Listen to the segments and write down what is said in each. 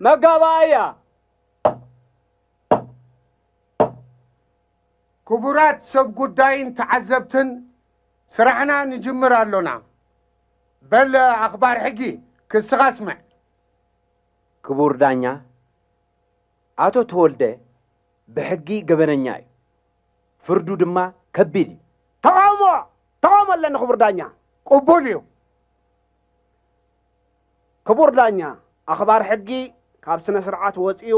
መጋባእያ ክቡራት ሰብ ጉዳይን ተዓዘብትን ስራሕና ንጅምር ኣሎና። በል ኣኽባር ሕጊ ክስኻ ስምዕ። ክቡር ዳኛ፣ ኣቶ ተወልደ ብሕጊ ገበነኛ እዩ፣ ፍርዱ ድማ ከቢድ እዩ። ተቓውሞ ተቓውሞ ኣለኒ ክቡር ዳኛ። ቅቡል እዩ። ክቡር ዳኛ፣ ኣኽባር ሕጊ ካብ ስነ-ስርዓት ወጺኡ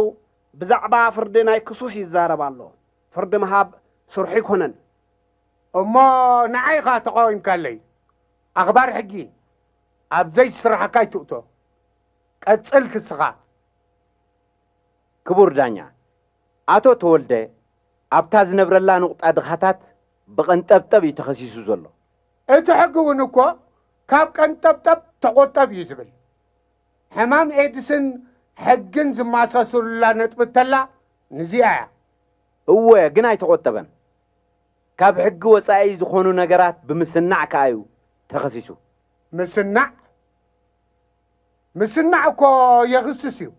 ብዛዕባ ፍርዲ ናይ ክሱስ ይዛረብ ኣሎ። ፍርዲ ምሃብ ስርሑ ኣይኮነን። እሞ ንዓይ ኢኻ ተቓዊምካለይ። ኣኽባር ሕጊ፣ ኣብ ዘይስራሕካ ኣይትእቶ። ቀጽል ክስኻ። ክቡር ዳኛ፣ ኣቶ ተወልደ ኣብታ ዝነብረላ ንቑጣ ድኻታት ብቐንጠብጠብ እዩ ተኸሲሱ ዘሎ። እቲ ሕጊ እውን እኮ ካብ ቀንጠብጠብ ተቆጠብ እዩ ዝብል። ሕማም ኤድስን ሕግን ዝማሳሰሉላ ነጥቢ እተላ ንዚኣ እያ። እወ ግን ኣይተቆጠበን። ካብ ሕጊ ወፃኢ ዝኾኑ ነገራት ብምስናዕ ከዓ እዩ ተኸሲሱ። ምስናዕ ምስናዕ እኮ የኽስስ እዩ።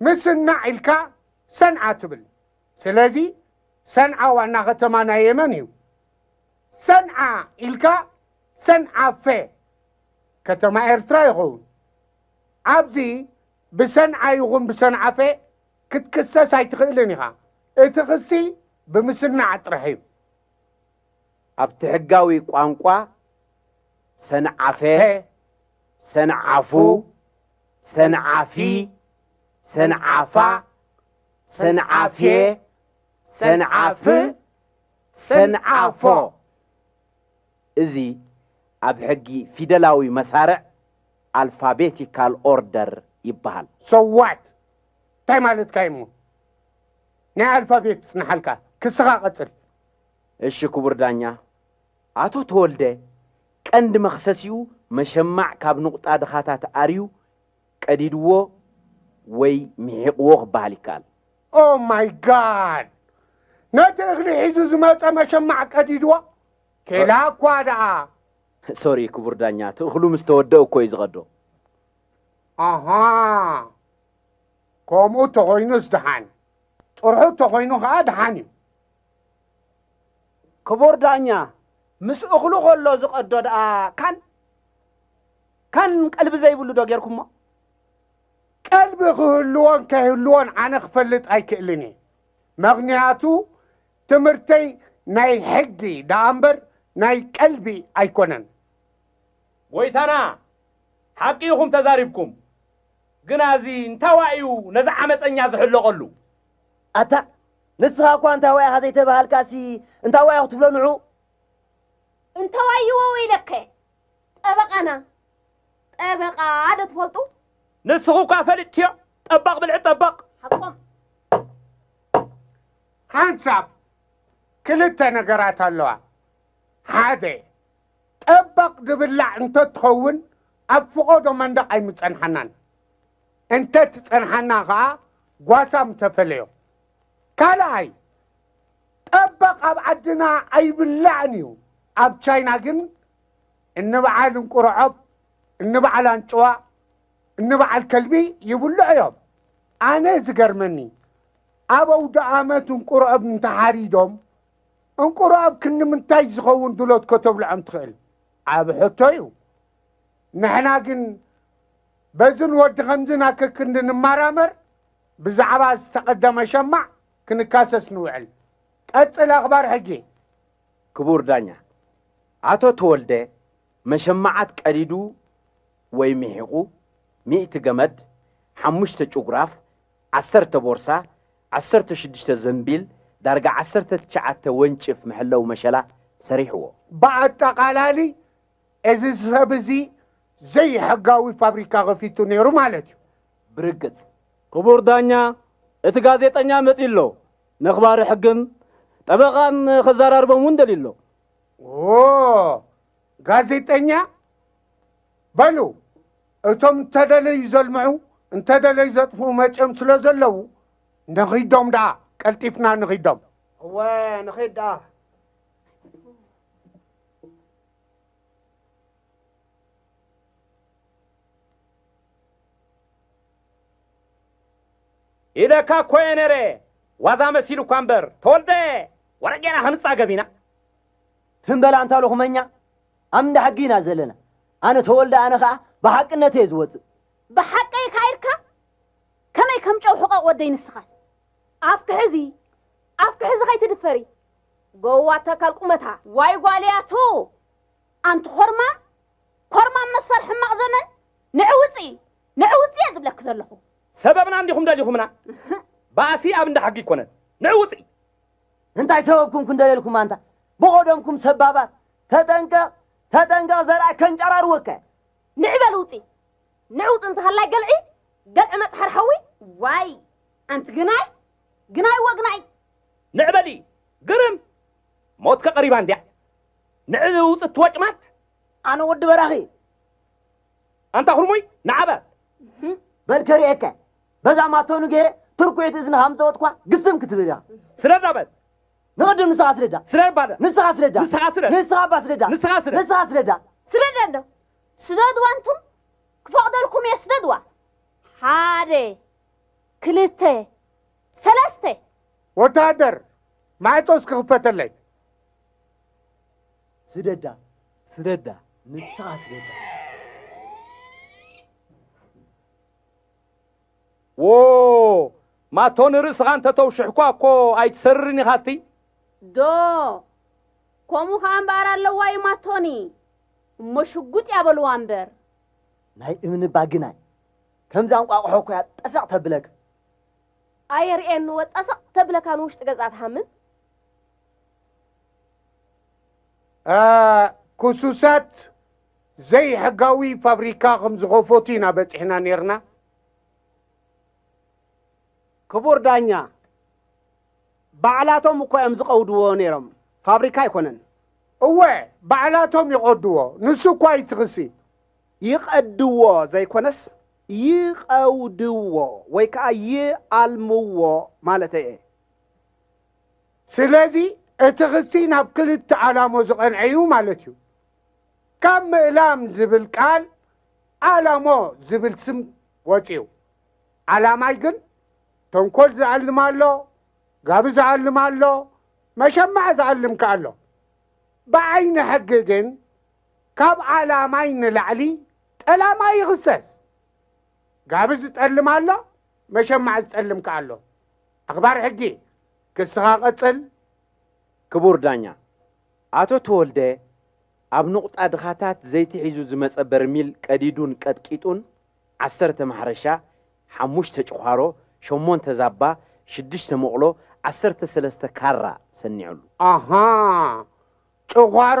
ምስናዕ ኢልካ ሰንዓ ትብል። ስለዚ ሰንዓ ዋና ከተማ ናይ የመን እዩ። ሰንዓ ኢልካ ሰንዓፈ ከተማ ኤርትራ ይኸውን። ኣብዚ ብሰንዓ ይኹን ብሰንዓፈ ክትክሰስ ኣይትኽእልን ኢኻ። እቲ ክሲ ብምስናዕ ጥራሕ እዩ። ኣብቲ ሕጋዊ ቋንቋ ሰንዓፈ፣ ሰንዓፉ፣ ሰንዓፊ፣ ሰንዓፋ፣ ሰንዓፌ ሰንዓፍ ሰንዓፎ እዚ ኣብ ሕጊ ፊደላዊ መሳርዕ ኣልፋቤቲካል ኦርደር ይበሃል። ሰዋት እንታይ ማለትካ እዩሞ ናይ ኣልፋቤት ይጽንሓልካ ክስኻ ቀጽል። እሺ ክቡር ዳኛ ኣቶ ተወልደ ቀንዲ መኽሰሲኡ መሸማዕ ካብ ንቑጣ ድኻታት ኣርዩ ቀዲድዎ ወይ ምሒቕዎ ክበሃል ይከኣል። ኦህ ማይ ጋድ! ነቲ እኽሊ ሒዙ ዝመጸ መሸማዕ ቀዲድዎ? ኬላ እኳ ደኣ! ሶሪ ክቡር ዳኛ፣ እቲ እኽሉ ምስ ተወደኡ እኮ እዩ ዝቐዶ። ኣሃ! ከምኡ እንተኾይኑስ ደሓን፣ ጥርሑ እንተኾይኑ ከኣ ደሓን እዩ። ክቡር ዳኛ፣ ምስ እኽሉ ከሎ ዝቐዶ ደኣ ካን? ካን ቀልቢ ዘይብሉ ዶ ጌርኩሞ? ቀልቢ ክህልዎን ከይህልዎን ኣነ ክፈልጥ ኣይክእልን እየ መክንያቱ ትምህርተይ ናይ ሕጊ ደኣ እምበር ናይ ቀልቢ ኣይኮነን። ጎይታና ሓቂ ኢኹም ተዛሪብኩም ግና እዚ እንታይ ዋእ እዩ ነዚ ዓመፀኛ ዝሕለቐሉ። ኣታ ንስኻ እኳ እንታይ ዋይ ኢኻ ዘይተባሃልካሲ እንታይ ዋይ ክትብሎ ንዑ። እንተዋይ ይወው ኢለከ ጠበቓና ጠበቓ ዶ ትፈልጡ? ንስኹ እኳ ፈሊጥክዮ ጠባቕ ብልዒ ጠባቕ። ሓቆም። ሓንሳብ ክልተ ነገራት ኣለዋ። ሓደ ጠባቕ ዝብላዕ እንተትኸውን ኣብ ፍቖዶ መንደቕ ኣይምጸንሓናን። እንተትጸንሓና ከኣ ጓሳ ምተፈለዮ። ካልኣይ ጠበቕ ኣብ ዓድና ኣይብላዕን እዩ ኣብ ቻይና ግን እንበዓል እንቁርዖብ እንበዓል ኣንጭዋ እንበዓል ከልቢ ይብልዑ እዮም ኣነ ዝገርመኒ ኣብ ኣውደኣመት እንቁርዖብ እንተሓሪዶም እንቁርዖብ ክንምንታይ ዝኸውን ድሎት ከተብልዖም ትኽእል ዓብ ሕቶ እዩ ንሕና ግን በዝን ወዲ ከምዝን ኣክክንዲ ንማራመር ብዛዕባ ዝተቐደመ ሸማዕ ክንካሰስ ንውዕል። ቀጽል ኣኽባር ሕጊ። ክቡር ዳኛ፣ ኣቶ ተወልደ መሸማዓት ቀዲዱ ወይ ሚሒቑ፣ ሚእቲ ገመድ፣ ሓሙሽተ ጭጉራፍ፣ ዓሰርተ ቦርሳ፣ ዓሰርተ ሽዱሽተ ዘንቢል፣ ዳርጋ ዓሰርተ ትሽዓተ ወንጭፍ መሐለዊ መሸላ ሰሪሕዎ። ብኣጠቓላሊ እዚ ሰብ እዚ ዘይሕጋዊ ፋብሪካ ከፊቱ ነይሩ ማለት እዩ። ብርግጽ ክቡር ዳኛ እቲ ጋዜጠኛ መጺኡ ኣሎ ነኽባሪ ሕግን ጠበቓን ከዘራርቦም እውን ደልዩ ኣሎ። ኦ ጋዜጠኛ በሉ እቶም እንተደለዩ ዘልምዑ እንተደለዩ ዘጥፍኡ መጺኦም ስለ ዘለዉ ንኺዶም ደኣ ቀልጢፍና ንኺዶም እወ ንኺድ ደኣ ኢለካ እኮ እየ ነረ ዋዛ መሲሉ እኳ እምበር ተወልደ ወረጌና ክንጻገብ ኢና ትም በላ እንታ ሎኹመኛ ኣብ እንዳ ሕጊ ኢና ዘለና ኣነ ተወልደ ኣነ ከዓ ብሓቅነት እየ ዝወፅእ ብሓቀይ ካይርካ ከመይ ከም ጨው ሕቐቕ ወደይ ንስኻስ ኣፍክሕዚ ኣፍክሕዚ ከይትድፈሪ ጎዋ ተካል ቁመታ ዋይ ጓልያቱ ኣንቲ ኮርማ ኮርማ መስፈር ሕማቕ ዘመን ንዕ ውፂ ንዕ ውፂ እየ ዝብለኪ ዘለኹ ሰበብና እንዲኹም ደሊኹምና ባእሲ ኣብ እንዳ ሕጊ ይኮነን ንዕ ውፂ እንታይ ሰበብኩም ክንደልየልኩም ኣንታ ብቆደምኩም ሰባባት ተጠንቀቕ ተጠንቀቕ ዘርኣ ከንጨራርወካ ንዕበል ውፂ ንዕውፅ እንተሃላይ ገልዒ ገልዒ መፅሓር ሓዊ ዋይ ኣንቲ ግናይ ግናይ ወግናይ! ንዕ በሊ! ግርም! ሞትከ ቀሪባ እንድያ! ንዕ ውጽ እቲ ወጭማት! ኣነ ወዲ በራኺ! ኣንታ ኩርሙይ! ንዓ በል! በል ከርእየካ! በዛ ማቶኑ ገይረ ትርኩዒት እዝንኻ ምስ ዘወጥኳ ግስም ክትብል ኢኻ! ስለዳ በል! ንቕድም ንስኻ ስለዳ! ስለድ ባለ! ንስኻ ስለዳ! ንስኻ ስለድ! ንስኻ እባ ስለዳ! ንስኻ ስለድ! ንስኻ ስለዳ! ስለድ ኣሎ! ስደድዋ እንቱም! ክፈቕደልኩም እየ ስደድዋ! ሓደ! ክልተ ሰለስተ ወተሃደር ማዕጾ እስኪ ክፈተለይ ስደዳ ስደዳ ንስኻ ስደዳ ዎ ማቶ ንርእስኻ እንተተውሽሕኳ እኮ ኣይትሰርርን ኢኻ እትይ ዶ ከምኡ ከዓ እምበኣር ኣለዋ እዩ ማቶኒ እሞ ሽጉጥ ያበልዋ እምበር ናይ እምኒ ባግናይ ከምዛ እንቋቑሖ እኮ እያ ጠሰቕ ተብለካ። ኣየርእየኒ ወ ጠሰቕ ተብለካ ንውሽጢ ገዛ ትሃምም። ኩሱሳት ዘይሕጋዊ ፋብሪካ ከም ዝኸፈቱ ኢና በፂሕና ነይርና። ክቡር ዳኛ ባዕላቶም እኮ እዮም ዝቐውድዎ ነይሮም፣ ፋብሪካ ኣይኮነን። እወ ባዕላቶም ይቐድዎ፣ ንሱ እኳ እዩ እቲ ክሲ። ይቐድዎ ዘይኮነስ ይቐውድዎ ወይ ከዓ ይኣልምዎ ማለተይ እየ። ስለዚ እቲ ክሲ ናብ ክልተ ኣላሞ ዝቐንዐ እዩ ማለት እዩ። ካብ ምእላም ዝብል ቃል ኣላሞ ዝብል ስም ወፅዩ። ኣላማይ ግን ተንኮል ዝኣልም ኣሎ፣ ጋቢ ዝኣልም ኣሎ፣ መሸማዕ ዝኣልም ከ ኣሎ። ብዓይኒ ሕጊ ግን ካብ ኣላማይ ንላዕሊ ጠላማይ ይኽሰስ። ጋቢ ዝጠልም ኣሎ፣ መሸማዕ ዝጠልም ከኣ ኣሎ። ኣኽባር ሕጊ፣ ክስኻ ቀጽል። ክቡር ዳኛ፣ ኣቶ ተወልደ ኣብ ንቑጣ ድኻታት ዘይቲ ሒዙ ዝመጸ በርሚል ቀዲዱን ቀጥቂጡን ዓሰርተ ማሕረሻ፣ ሓሙሽተ ጭዃሮ፣ ሸሞንተ ዛባ፣ ሽዱሽተ መቑሎ፣ ዓሰርተ ሰለስተ ካራ ሰኒዑሉ። ኣሃ፣ ጭዃሮ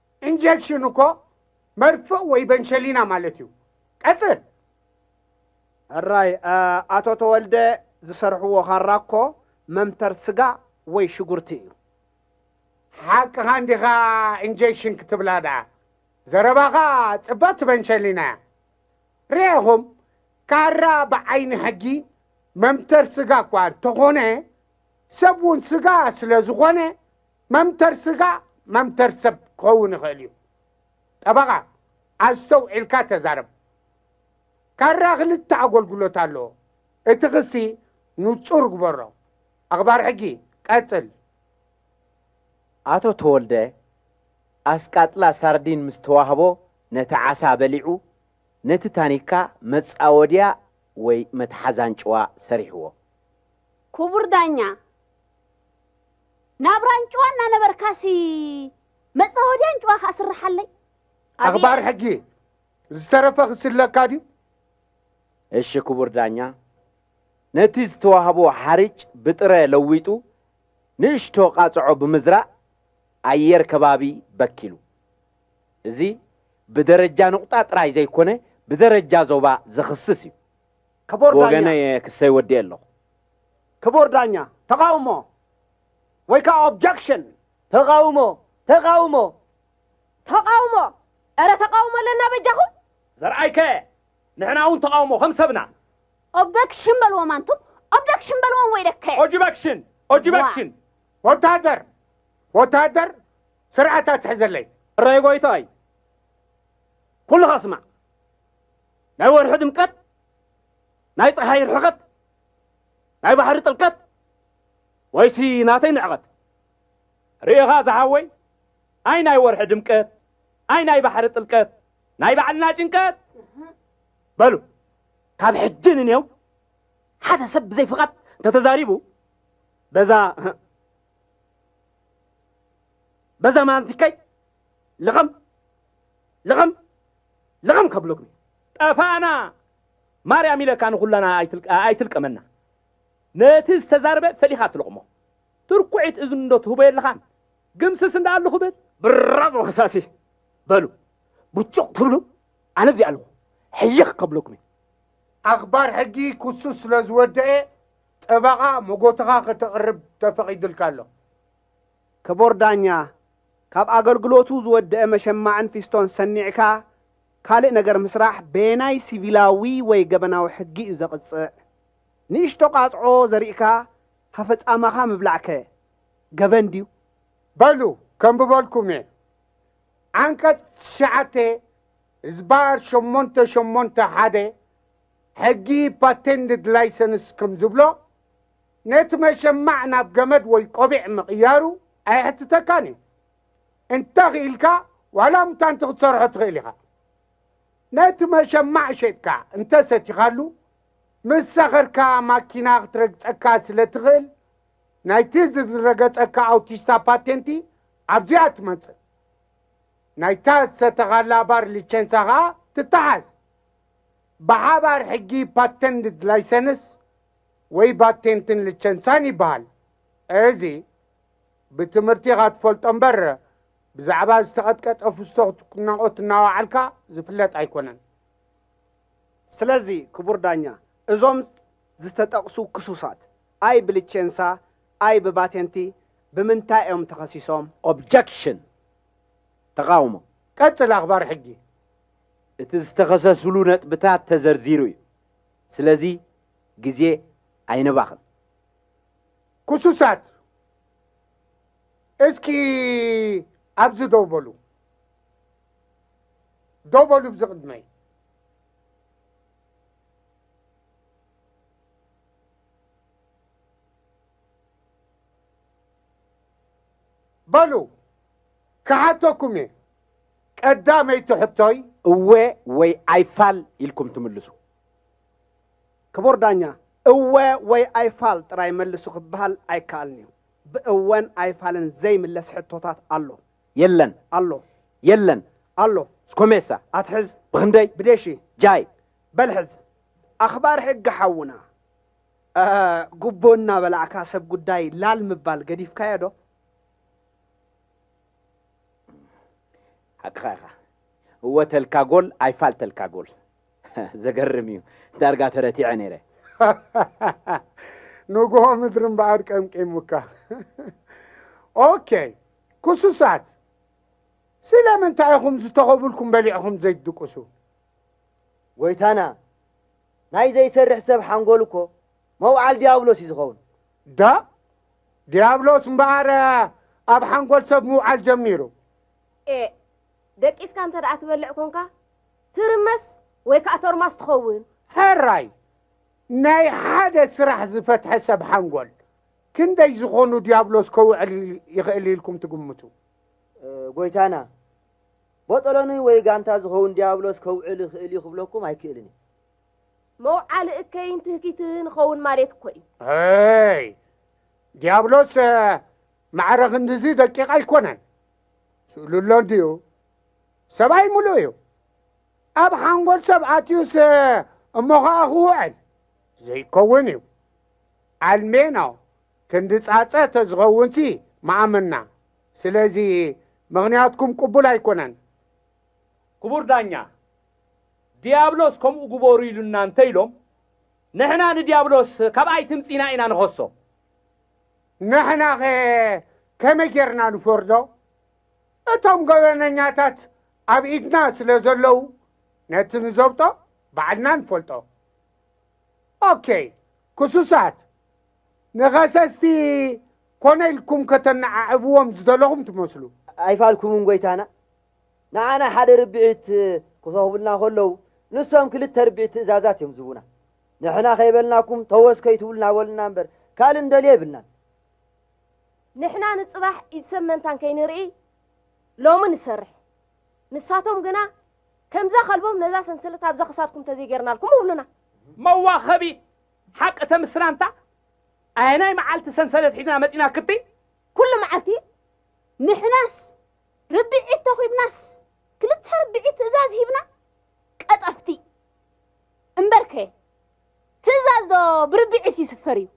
ኢንጀክሽን እኮ መርፍእ ወይ በንሸሊና ማለት እዩ። ቀጽል። ሕራይ ኣቶ ተወልደ ዝሰርሕዎ ካራ እኮ መምተር ስጋ ወይ ሽጉርቲ እዩ። ሓቅኻ እንዲኻ ኢንጀክሽን ክትብላ ደኣ ዘረባኻ ጽብቕቲ በንሸሊና እያ። ርኤኹም ካራ ብዓይኒ ሕጊ መምተር ስጋ እኳ እንተኾነ ሰብ እውን ስጋ ስለ ዝኾነ መምተር ስጋ መምተር ሰብ ክኸውን ይኽእል እዩ። ጠበቓ፣ ኣስተውዒልካ ተዛረብ። ካራ ክልተ ኣጎልጉሎት ኣለዎ። እቲ ክሲ ንጹር ግበሮ። ኣኽባር ሕጊ፣ ቀጽል። ኣቶ ተወልደ፣ ኣስቃጥላ ሳርዲን ምስ ተዋህቦ ነቲ ዓሳ በሊዑ፣ ነቲ ታኒካ መጻወድያ ወይ መትሓዚ ኣንጭዋ ሰሪሕዎ። ክቡር ዳኛ፣ ናብራ ኣንጭዋ እናነበርካሲ መጻወዲ ኣንጭዋ ከኣ ስርሓለይ ኣኽባር ሕጊ ዝተረፈ ክስለካ ድዩ እሺ ክቡር ዳኛ ነቲ ዝተዋህቦ ሓርጭ ብጥረ ለዊጡ ንእሽቶ ቃጽዖ ብምዝራእ ኣየር ከባቢ በኪሉ እዚ ብደረጃ ንቑጣ ጥራይ ዘይኮነ ብደረጃ ዞባ ዘኽስስ እዩ ክቡር ዳኛ ብወገነይ እየ ክሰይ ወዲኤ ኣለኹ። ክቡር ዳኛ፣ ተቓውሞ ወይ ከዓ ኦብጀክሽን። ተቓውሞ! ተቓውሞ! ተቓውሞ! እረ ተቓውሞ ኣለና በጃኹም! ዘርኣይከ ንሕና እውን ተቓውሞ ከም ሰብና። ኦብደክሽን በልዎም ኣንቱም ኦብደክሽን በልዎም ወይለከ ኦጅበክሽን ኦጅበክሽን ወታደር ወታደር ስርዓት ኣትሕዘለይ እረይ ጎይታይ ኩልኻ ስማዕ ናይ ወርሒ ድምቀት፣ ናይ ፀሓይ ርሕቐት፣ ናይ ባሕሪ ጥልቀት ወይሲ ናተይ ንዕቐት? ርኤኻ ዝሓወይ ኣይ ናይ ወርሒ ድምቀት፣ ኣይ ናይ ባሕሪ ጥልቀት፣ ናይ ባዕልና ጭንቀት። በሉ ካብ ሕጂ ንኔው ሓደ ሰብ ብዘይ ፍቓድ እንተተዛሪቡ በዛ በዛ ማንቲከይ ልቕም ልቕም ልቕም ከብለኩም እዩ። ጠፋእና ማርያም ኢለካ ንኹላና ኣይትልቀመና ነቲ ዝተዛርበ ፈሊኻ ትልቕሞ ትርኩዒት እዝኒ እንዶ ትህቦ የለኻን ግምስስ እንዳ ኣለኹ ብል ብራቮ ክሳሲ በሉ ብጩቕ ትብሉ ኣነ ብዚኣ ኣለኹ ሕይኽ ከብለኩም እዩ ኣኽባር ሕጊ ክሱ ስለ ዝወደኤ ጠበቓ መጎትኻ ከተቕርብ ተፈቒድልካ ኣሎ። ክቡር ዳኛ ካብ ኣገልግሎቱ ዝወደኣ መሸማዕን ፊስቶን ሰኒዕካ ካልእ ነገር ምስራሕ በየናይ ሲቪላዊ ወይ ገበናዊ ሕጊ እዩ ዘቕጽዕ? ንእሽቶ ቃጽዖ ዘሪእካ ሃፈ ጻማኻ ምብላዕከ ገበን ድዩ? በሉ ከንብበልኩም እየ። ዓንቀጽ ትሽዓተ ህዝባር ሸሞንተ ሸሞንተ ሓደ ሕጊ ፓቴንድድ ላይሰንስ ከም ዝብሎ፣ ነቲ መሸማዕ ናብ ገመድ ወይ ቆቢዕ ምቕያሩ ኣየሕትተካን እዩ። እንተ ኽኢልካ ዋላ ሙታንቲ ክትሰርሖ ትኽእል ኢኻ። ነቲ መሸማዕ ሸጥካ እንተ ሰቲኻሉ፣ ምስ ሰኸርካ ማኪና ክትረግጸካ ስለ ትኽእል፣ ናይቲ ዝዝረገጸካ ኣውቲስታ ፓቴንቲ ኣብዚኣ ትመጽእ። ናይታ ዝሰተኻላ ባር ሊቸንሳ ኸኣ ትተሓዝ። ብሓባር ሕጊ ፓተንድ ላይሰንስ፣ ወይ ባቴንትን ልቸንሳን ይበሃል። እዚ ብትምህርቲ ኢኻ ትፈልጦ እምበር ብዛዕባ ዝተቐጥቀጠ ፍስቶ ክትናቖት እናወዓልካ ዝፍለጥ ኣይኮነን። ስለዚ ክቡር ዳኛ፣ እዞም ዝተጠቕሱ ክሱሳት፣ ኣይ ብልቼንሳ ኣይ ብባቴንቲ ብምንታይ እዮም ተኸሲሶም? Objection፣ ተቓውሞ። ቀጽል ኣኽባር ሕጊ። እቲ ዝተኸሰስሉ ነጥብታት ተዘርዚሩ እዩ። ስለዚ ግዜ ኣይነባኽን። ኩሱሳት እስኪ ኣብዚ ደው በሉ ደው በሉ ብዚ ቅድመይ በሉ ክሓተኩም እየ ቀዳመይቲ ሕቶይ እወ ወይ ኣይፋል ኢልኩም ትምልሱ። ክቡር ዳኛ፣ እወ ወይ ኣይፋል ጥራይ መልሱ ክበሃል ኣይከኣልን እዩ። ብእወን ኣይፋልን ዘይምለስ ሕቶታት ኣሎ። የለን። ኣሎ። የለን። ኣሎ። ስኮሜሳ። ኣትሕዝ። ብኽንደይ? ብደሺ። ጃይ። በል ሕዝ። ኣኽባር ሕጊ ሓውና፣ ጉቦ እናበላዕካ ሰብ ጉዳይ ላል ምባል ገዲፍካዮ ዶ? ሓቅኻ ኢኻ። እወ ተልካ ጎል፣ ኣይፋል ተልካ ጎል። ዘገርም እዩ ዳርጋ ተረቲዐ ነይረ። ንጉሆ ምድሪ እምበኣር ቀምቂሙካ። ኦኬ ኩሱሳት ስለምንታይ ኢኹም ዝተኸብልኩም በሊዕኹም ዘይትድቅሱ? ጎይታና ናይ ዘይሰርሕ ሰብ ሓንጎል እኮ መውዓል ዲያብሎስ እዩ ዝኸውን። ዳ ዲያብሎስ እምበኣር ኣብ ሓንጎል ሰብ ምውዓል ጀሚሩ። ኤእ ደቂስካ እንተ ደኣ ትበልዕ ኮንካ ትርመስ ወይ ከኣ ቶርማስ ትኸውን። ሕራይ ናይ ሓደ ስራሕ ዝፈትሐ ሰብ ሓንጎል ክንደይ ዝኾኑ ዲያብሎስ ከውዕል ይኽእል ኢልኩም ትግምቱ? ጎይታና፣ ቦጦሎኒ ወይ ጋንታ ዝኸውን ዲያብሎስ ከውዕል ይኽእል እዩ ክብለኩም ኣይክእልን እየ። መውዓሊ እከይን ትህኪትን ኸውን ማሌት እኮ እዩ። ኣይ ዲያብሎስ ማዕረ ክንድዚ ደቂቕ ኣይኮነን። ስእሉ ኣሎ እንድዩ ሰብኣይ ምሉእ እዩ ኣብ ሓንጎል ሰብ ኣትዩስ እሞ ኸዓ ክውዕል ዘይከውን እዩ ኣልሜኖ ክንዲ ጻጸ ተዝኸውንሲ መኣመና ስለዚ ምኽንያትኩም ቅቡል ኣይኮነን ክቡር ዳኛ ዲያብሎስ ከምኡ ግበሩ ኢሉና እንተ ኢሎም ንሕና ንዲያብሎስ ካብኣይ ትምጺና ኢና ንኸሶ ንሕናኸ ከመይ ጌርና ንፈርዶ? እቶም ገበነኛታት ኣብ ኢድና ስለ ዘለዉ ነቲ ንዘብጦ ባዕልና ንፈልጦ። ኦኬይ ክሱሳት፣ ንኸሰስቲ ኮነ ኢልኩም ከተነዓዕብዎም ዝደለኹም ትመስሉ። ኣይፋልኩምን ጐይታና። ንዓና ሓደ ርብዒት ክፈኽቡልና ከለዉ ንሶም ክልተ ርብዒት ትእዛዛት እዮም ዝህቡና። ንሕና ከይበልናኩም ተወስ ከይትብሉ ናበሉና እምበር ካልእ እንደልዮ የብልናን። ንሕና ንጽባሕ ኢድ ሰብ መንታን ከይንርኢ ሎሚ ንሰርሕ። ንሳቶም ግና ከምዛ ከልቦም ነዛ ሰንሰለት ኣብዛ ክሳድኩም ተዘይጌርናልኩም እብሉና። መዋኸቢ ሓቂ ተምስላንታ ኣየናይ መዓልቲ ሰንሰለት ሒዝና መጺና ክትይ ኩሉ መዓልቲ ንሕናስ ርብዒት ተኺብናስ ክልተ ርብዒት ትእዛዝ ሂብና ቀጠፍቲ እምበርከ ትእዛዝ ዶ ብርብዒት ይስፈር እዩ?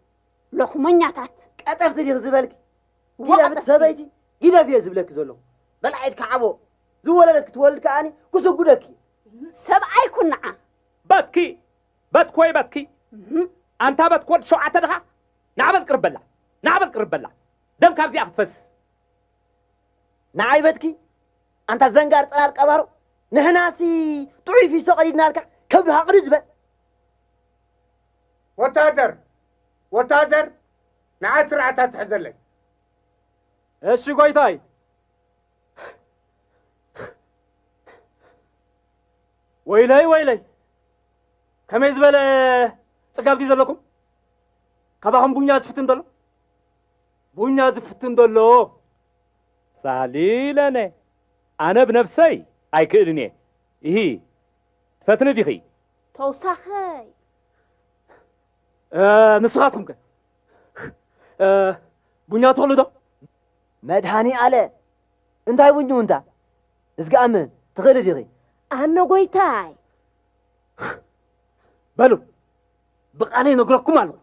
ሎኽመኛታት! ቀጠፍቲ ዲኺ ዝበልኪ? ጊደፍት ሰበይቲ ጊደፍ እየ ዝብለኪ ዘለኹ። በላዒት ካዕቦ ዝወለደት ክትወልድ ከኣኒ ክስጉደኪ። ሰብኣይ ኩናዓ! በትኪ በትኪ ወይ በትኪ ኣንታ በትኪ ወዲ ሸውዓተ ድኻ ናዕበል ቅርብ በላ ናዕበል ቅርብ በላ ደም ካብዚኣ ክትፈስ ንዓይ በትኪ ኣንታ ዘንጋር ጽራር ቀባሮ ንሕናሲ ጥዑይ ፊሶ ቀዲድናልካ ከብድኻ ቅድድ በል ወታደር ወታደር ንዓይ ስርዓት ኣትሕዘለይ እሺ ጎይታይ ወይለይ ወይለይ ከመይ ዝበለ ጽጋብ ድዩ ዘለኩም ካባኹም ቡኛ ዝፍትን ዘሎ ቡኛ ዝፍትን ዶ ኣሎ? ሳህሊ ለነ፣ ኣነ ብነብሰይ ኣይክእልን እየ። ኢሂ፣ ትፈትኒ ዲኺ? ተውሳኸይ። ንስኻትኩም ከ ቡኛ ትኽእሉ ዶ? መድሃኒ ኣለ፣ እንታይ ቡኙ እንታ? እዝግኣም ትኽእሊ ዲኺ? ኣነ ጎይታይ። በሉ ብቃለይ ነግረኩም ኣለኹ።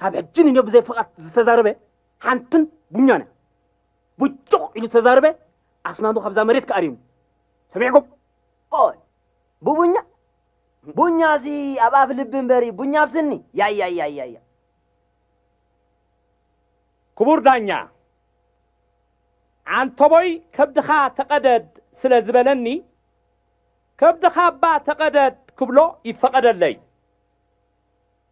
ካብ ሕጂ ንዮ ብዘይ ፍቓድ ዝተዛረበ ሓንትን ቡኛን እያ ቡጩቕ ኢሉ ተዛረበ ኣስናኑ ካብዛ መሬት ክኣርዩ ሰሚዕኩም ቆይ ብቡኛ ቡኛ እዚ ኣብ ኣፍ ልቢ እምበሪ ቡኛ ኣብ ስኒ ያያያያያ ክቡር ዳኛ ዓንተቦይ ከብድኻ ተቐደድ ስለ ዝበለኒ ከብድኻ እባ ተቐደድ ክብሎ ይፈቐደለይ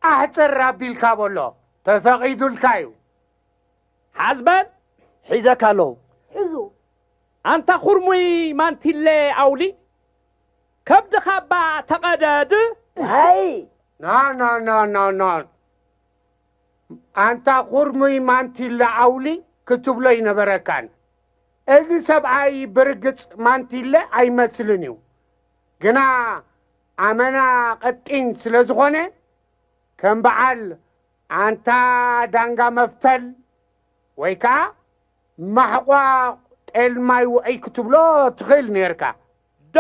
ኣሕጽር ኣቢልካ በሎ ተፈቂዱልካ እዩ። ሓዝ በል ሒዘካ ኣለኹ። ሕዙ። ኣንታ ኹርሙይ ማንቲለ ኣውሊ ከብድኻ እባ ተቐደድ። ዋይ! ኖኖኖኖኖን ኣንታ ኹርሙይ ማንቲለ ኣውሊ ክትብሎ ኣይነበረካን። እዚ ሰብኣይ ብርግጽ ማንቲለ ኣይመስልን እዩ። ግና ኣመና ቐጢን ስለ ዝኾነ ከም በዓል ኣንታ ዳንጋ መፍተል ወይ ከኣ ማሕቋ ጤል ማይ ውዑይ ክትብሎ ትኽእል ኔርካ ዶ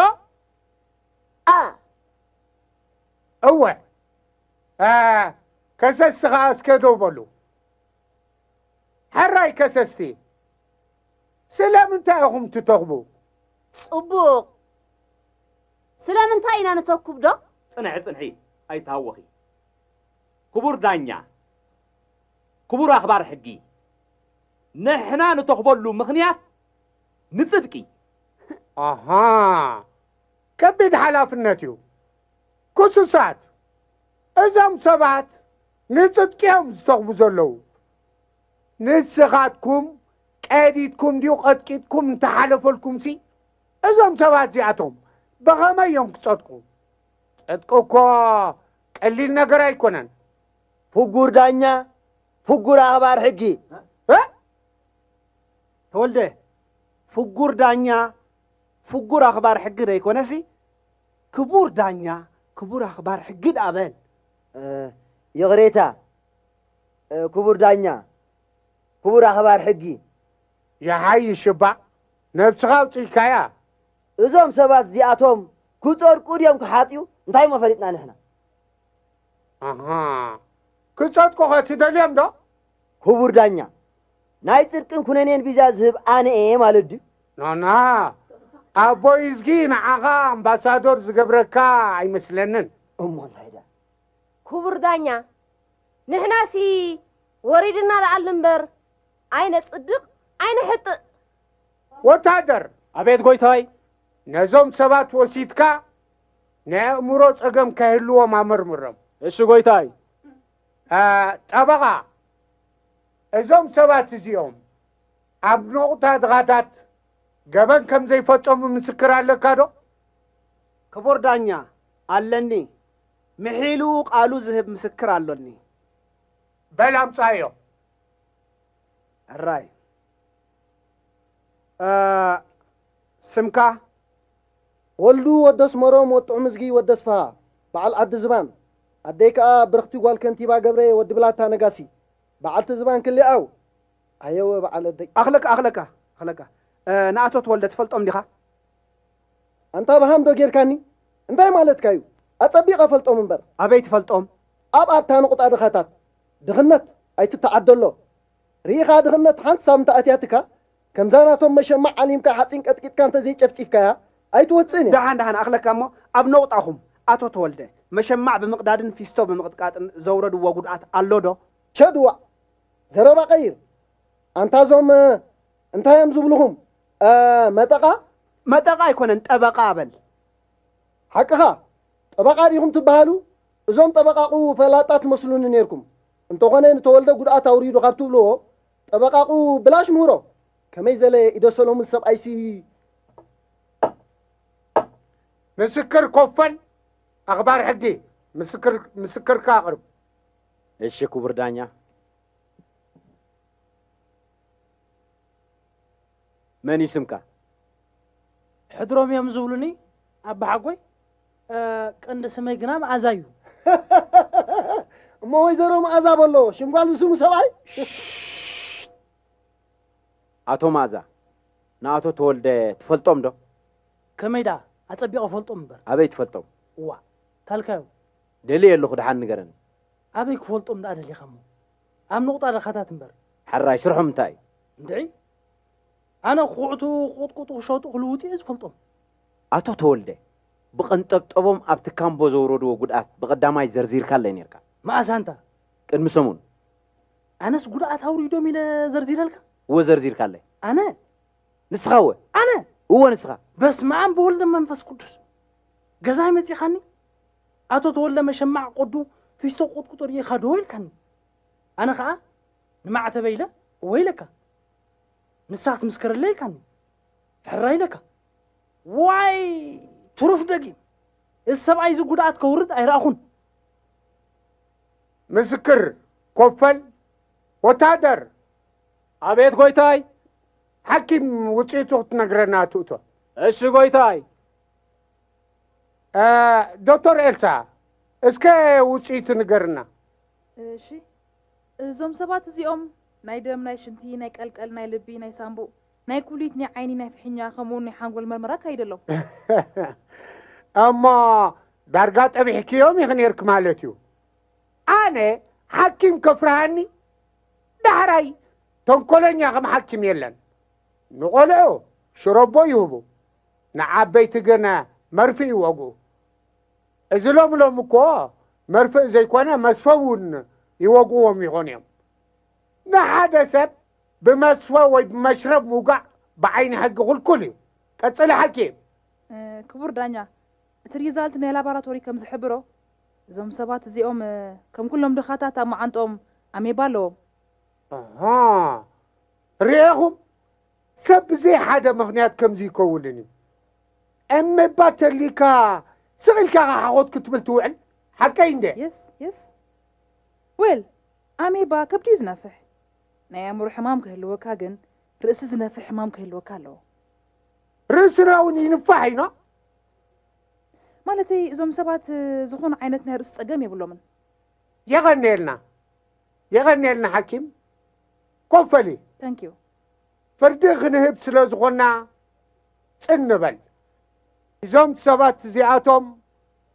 a እወ a ከሰስቲ ከኣ እስከ ደው በሉ ሕራይ ከሰስቲ ስለምንታይ ኢኹም ትተኽቡ? ጽቡቕ ስለምንታይ ኢና ንተኩብዶ? ጽንሒ ጽንሒ ኣይትሃወኺ ክቡር ዳኛ ክቡር ኣኽባር ሕጊ ንሕና ንተኽበሉ ምኽንያት ንጽድቂ ኣሃ ከቢድ ሓላፍነት እዩ ክሱሳት እዞም ሰባት ንጽድቂ እዮም ዝተኽቡ ዘለዉ ንስኻትኩም ቀዲድኩም ድዩ ቐጥቂጥኩም እንተሓለፈልኩምሲ እዞም ሰባት እዚኣቶም ብኸመይ እዮም ክጸድቁ? ጽድቂ እኮ ቀሊል ነገር ኣይኮነን። ፍጉር ዳኛ፣ ፍጉር ኣኽባር ሕጊ። ተወልደ፣ ፍጉር ዳኛ፣ ፍጉር ኣኽባር ሕጊ ዘይኮነሲ ክቡር ዳኛ፣ ክቡር ኣኽባር ሕጊ ደኣ በል። ይቕሬታ ክቡር ዳኛ፣ ክቡር ኣኽባር ሕጊ። ይሓይሽ እባ ነብስኻ ኣውጺእካያ። እዞም ሰባት እዚኣቶም ክጸድቁ ድዮም ክሓጥኡ እንታይ እሞ ፈሊጥና ንሕና። ኣሃ ክጸድቁ ከ ትደልዮም ዶ? ክቡር ዳኛ ናይ ጽድቅን ኩነኔን ቪዛ ዝህብ ኣነ እየ ማለት ድዩ? ናና ኣቦይዝጊ ንዓኻ ኣምባሳዶር ዝገብረካ ኣይመስለንን። እሞ እንታይ ድኣ? ክቡር ዳኛ ንሕናሲ ወሪድና ንኣል እምበር ኣይነጽድቕ ኣይነሕጥእ። ወታደር፣ ኣቤት ጎይታይ። ነዞም ሰባት ወሲድካ ናይ ኣእምሮ ጸገም ከይህልዎም ኣመርምሮም። እሺ ጎይታይ። ጠበቓ፣ እዞም ሰባት እዚኦም ኣብ ነቑጣ ድኻታት ገበን ከም ዘይፈጸሙ ምስክር ኣለካ ዶ? ክቡር ዳኛ፣ ኣለኒ። ምሒሉ ቃሉ ዝህብ ምስክር ኣሎኒ። በል ኣምጻዮ። ሕራይ ስምካ ወልዱ ወዲ ኣስመሮም ወዲ ጥዑምዝጊ ወዲ ኣስፍሃ በዓል ዓዲ ዝባን ኣደይ ከኣ ብርኽቲ ጓል ከንቲባ ገብሬ ወዲ ብላታ ነጋሲ በዓልቲ ዝባን ክሊኣው ኣየወ በዓል ኣደይ ኣኽለካ ኣኽለካ ኣኽለካ ንኣቶ ተወልደ ትፈልጦም ዲኻ ኣንታ ብሃም ዶ ጌርካኒ እንታይ ማለትካ እዩ ኣጸቢቐ ፈልጦም እምበር ኣበይ ትፈልጦም ኣብ ኣብታ ንቑጣ ድኻታት ድኽነት ኣይትተዓደሎ ርኢኻ ድኽነት ሓንቲ ሳብ እንተ ኣትያትካ ከምዛ ናቶም መሸማዕ ዓሊምካ ሓጺን ቀጥቂጥካ እንተ ዘይጨፍጪፍካያ ኣይትወጽእን እያ። ደሓን ደሓን ኣኽለካ እሞ ኣብ ነቑጣኹም ኣቶ ተወልደ፣ መሸማዕ ብምቕዳድን ፊስቶ ብምቕጥቃጥን ዘውረድዎ ጉድኣት ኣሎ ዶ? ቸዱ ዋእ ዘረባ ቀይር ኣንታ እዞም እንታይ እዮም ዝብልኹም መጠቓ? መጠቓ ኣይኮነን ጠበቓ በል። ሓቅኻ ጠበቓ ዲኹም ትበሃሉ እዞም ጠበቓቑ ፈላጣት ትመስሉኒ ኔርኩም፣ እንተኾነ ንተወልደ ጉድኣት ኣውሪዱ ካብ ትብልዎ ጠበቓቑ ብላሽ ምህሮ ከመይ ዘለ ኢደሰሎሙን ሰብኣይሲ። ምስክር ኮፈን ኣኽባር ሕጊ ምስክርካ ኣቕርብ። እሺ ክቡር ዳኛ። መን እዩ ስምካ? ሕድሮም እዮም ዝብሉኒ ኣባሓጎይ። ቀንዲ ስመይ ግና መኣዛ እዩ። እሞ ወይዘሮ መኣዛ በሎ ሽም ጓል ዝስሙ ሰብኣይ ኣቶ መኣዛ ንኣቶ ተወልደ ትፈልጦም ዶ? ከመይ ደኣ ኣጸቢቐ ፈልጦም እምበር። ኣበይ ትፈልጦም? እዋ ታልካዮ ደልየ ኣለኹ ድሓን ንገረኒ። ኣበይ ክፈልጦም ደኣ ደሊኻ እሞ ኣብ ንቑጣ ደኻታት እምበር። ሓራይ ስርሖም እንታይ እዩ? እንድዒ ኣነ ክኹዕቱ ክቕጥቅጡ ክሸጡ ክልውጡ እየ ዝፈልጦም። ኣቶ ተወልደ ብቐንጠብጠቦም ኣብቲ ካምቦ ዘውረድዎ ጉድኣት ብቐዳማይ ዘርዚርካለይ ኔርካ። መኣስ ኣንታ? ቅድሚ ሰሙን። ኣነስ ጉድኣት ኣውሪዶም ኢለ ዘርዚረልካ? እወ ዘርዚርካለይ። ኣነ? ንስኻ እወ። ኣነ? እወ ንስኻ። በስመኣም ብወልድ መንፈስ ቅዱስ። ገዛይ መጺኻኒ? ኣቶ ተወልደ መሸማዕ ቆዱ ፊስቶ ቁጥቁጦ ርኢኻ ዶ ኢልካኒ። ኣነ ከኣ ንማዕተበይ ኢለ እወ ኢለካ። ንሳ ክትምስክረለይ ኢልካኒ። ሕራይ ኢለካ ዋይ ትሩፍ ደጊም እዚ ሰብኣይ እዚ ጉድኣት ከውርድ ኣይረኣኹን ምስክር ኮፈል ወታደር ኣቤት ጎይታይ ሓኪም ውፅኢቱ ክትነግረና ትእቶ እሺ ጎይታይ ዶክተር ኤልሳ እስከ ውፅኢቱ ንገርና እሺ እዞም ሰባት እዚኦም ናይ ደም ናይ ሽንቲ ናይ ቀልቀል ናይ ልቢ ናይ ሳምቡእ ናይ ኩሊት፣ ናይ ዓይኒ፣ ናይ ፍሒኛ ከምኡውን ናይ ሓንጎል መርመራ ኣካይደ ኣሎ። እሞ ዳርጋ ጠቢሕክዮም ኢኺ ነይርኪ ማለት እዩ። ኣነ ሓኪም ከፍርሃኒ ዳሕራይ ተንኮለኛ ከም ሓኪም የለን። ንቆልዑ ሽሮቦ ይህቡ፣ ንዓበይቲ ግን መርፍእ ይወግኡ። እዚ ሎም ሎም እኮ መርፍእ ዘይኮነ መስፈ እውን ይወግዎም ይኾኑ እዮም። ንሓደ ሰብ ብመስፈ ወይ ብመሽረብ ምውጋእ ብዓይኒ ሕጊ ኩልኩል እዩ። ቀጽሊ ሓኪም። ክቡር ዳኛ፣ እቲ ሪዛልት ናይ ላባራቶሪ ከም ዝሕብሮ፣ እዞም ሰባት እዚኦም ከም ኩሎም ድኻታት ኣብ መዓንጥኦም ኣሜባ ኣለዎም። ኣሃ ርኤኹም፣ ሰብ ብዘይ ሓደ ምኽንያት ከምዚ ይከውንን እዩ። ኣሜባ ተሊካ ስቕ ኢልካ ከ ሓኾት ክትብል ትውዕል፣ ሓቀይ እንድየ። የስ የስ ዌል ኣሜባ ከብዲ እዩ ዝነፍሕ። ናይ ኣእምሮ ሕማም ክህልወካ ግን ርእሲ ዝነፍሕ ሕማም ክህልወካ ኣለዎ። ርእስና እውን ይንፋሕ እዩ ኖ። ማለተይ እዞም ሰባት ዝኾነ ዓይነት ናይ ርእሲ ጸገም የብሎምን። የቐንየልና የቐንየልና ሓኪም ኮፍ በሊ። Thank you። ፍርዲ ክንህብ ስለ ዝኾንና ጽን ንበል። እዞም ሰባት እዚኣቶም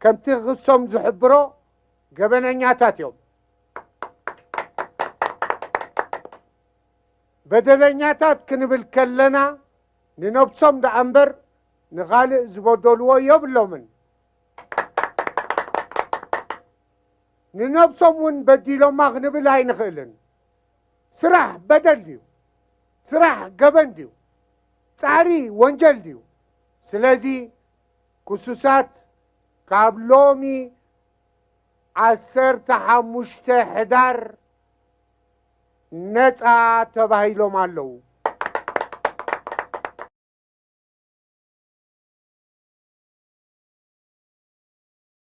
ከምቲ ክሶም ዝሕብሮ ገበነኛታት እዮም። በደለኛታት ክንብል ከለና ንነብሶም ደኣ እምበር ንኻልእ ዝበደልዎ የብሎምን ንነብሶም እውን በዲሎማ ክንብል ኣይንኽእልን ስራሕ በደል ድዩ ስራሕ ገበን ድዩ ጻዕሪ ወንጀል ድዩ ስለዚ ክሱሳት ካብ ሎሚ ዓሰርተ ሓሙሽተ ሕዳር ነፃ ተባሂሎም ኣለዉ።